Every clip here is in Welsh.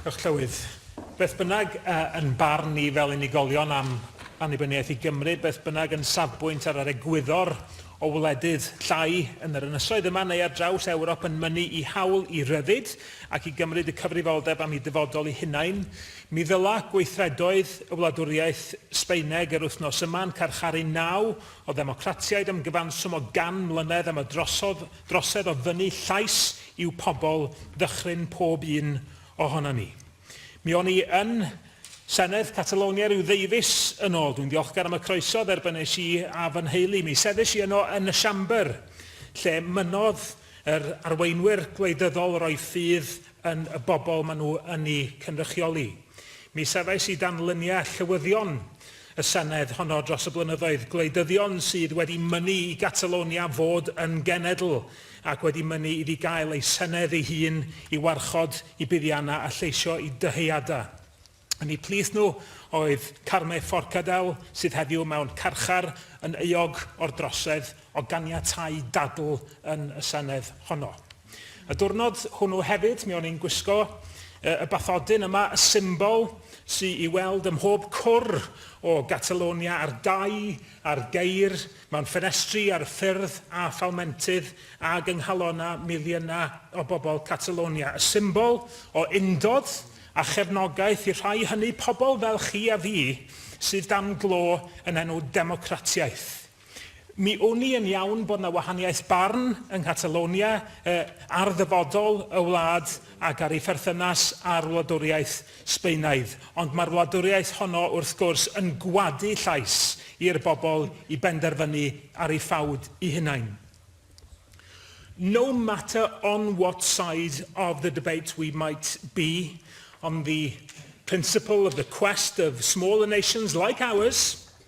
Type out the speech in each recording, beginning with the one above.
Diolch, Llywydd. Beth bynnag, yn barn ni fel unigolion am annibyniaeth i Gymru, beth bynnag yn safbwynt ar yr egwyddor o wledydd llai yn yr ynysoedd yma neu ar draws Ewrop yn mynnu i hawl i ryddid ac i gymryd y cyfrifoldeb am eu dyfodol eu hunain, mi ddyla gweithredoedd y wladwriaeth Sbaeneg yr wythnos yma'n carcharu naw o ddemocratiaid am gyfanswm o gan mlynedd am y drosodd drosedd o ddynnu llais i'w pobl ddychryn pob un ohonon ni. Mi o'n i yn Senedd Catalonia rhyw ddeufis yn ôl. Dwi'n ddiolchgar am y croeso dderbynais i a fy nheulu. Mi sefyll i yno yn y Siambr, lle mynnodd yr arweinwyr gwleidyddol roi ffydd yn y bobl maen nhw yn eu cynrychioli. Mi safais i dan lyniau llywyddion y Senedd honno dros y blynyddoedd, gwleidyddion sydd wedi mynnu i Gatalonia fod yn genedl ac wedi mynnu iddi gael ei Senedd ei hun i warchod i buddiannau a lleisio i dyheadau. Un o'u plith nhw oedd Carme Forcadell sydd heddiw mewn carchar yn euog o'r drosedd o ganiatáu dadl yn y Senedd honno. Y diwrnod hwnnw hefyd, mi o'n i'n gwisgo y bathodyn yma, y symbol sy i weld ym mhob cwr o Gatalonia ar dai, ar geir, mewn ffenestri, ar y ffyrdd a phalmentydd ag yng nghalonna miliynau o bobl Catalonia. Y symbol o undod a chefnogaeth i'r rhai hynny, pobl fel chi a fi, sydd dan glo yn enw democratiaeth. Mi wn i yn iawn bod 'na wahaniaeth barn yng Nghatalonia ar ddyfodol y wlad ac ar ei pherthynas â'r wladwriaeth Sbaenaidd, ond mae'r wladwriaeth honno, wrth gwrs, yn gwadu llais i'r bobl i benderfynu ar ei ffawd i hunain. No matter on what side of the debate we might be, on the principle of the quest of smaller nations like ours,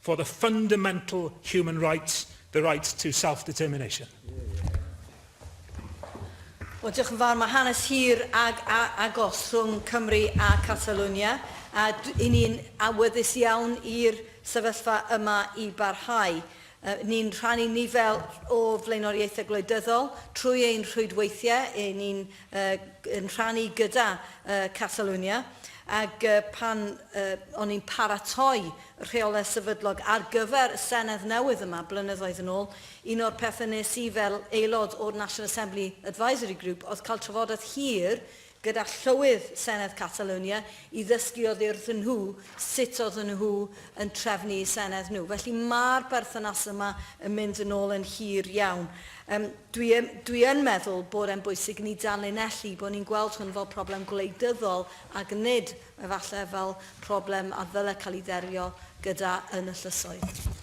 for the fundamental human rights, the right to self-determination. Wel, diolch yn fawr. Mae hanes hir ag a, agos rhwng Cymru a Catalonia, a i ni'n awyddus iawn i'r sefyllfa yma i barhau. Uh, ni'n rhannu nifer o flaenoriaethau gwleidyddol trwy ein rhwydweithiau, ni'n yn rhannu gyda Catalunya ac pan o'n i'n paratoi rheolau sefydlog ar gyfer y Senedd newydd yma blynyddoedd yn ôl, un o'r pethau nes i fel aelod o'r National Assembly Advisory Group oedd cael trafodaeth hir gyda Llywydd Senedd Catalunya i ddysgu oddi wrthyn nhw sut oedden nhw yn trefnu eu Senedd nhw. Felly mae'r berthynas yma yn mynd yn ôl yn hir iawn. Yym, dwi yn, dwi yn meddwl bod e'n bwysig i ni danlinellu bod ni'n gweld hwn fel problem gwleidyddol ac nid, efallai, fel problem a ddyle cael ei dderio gyda yn y llysoedd.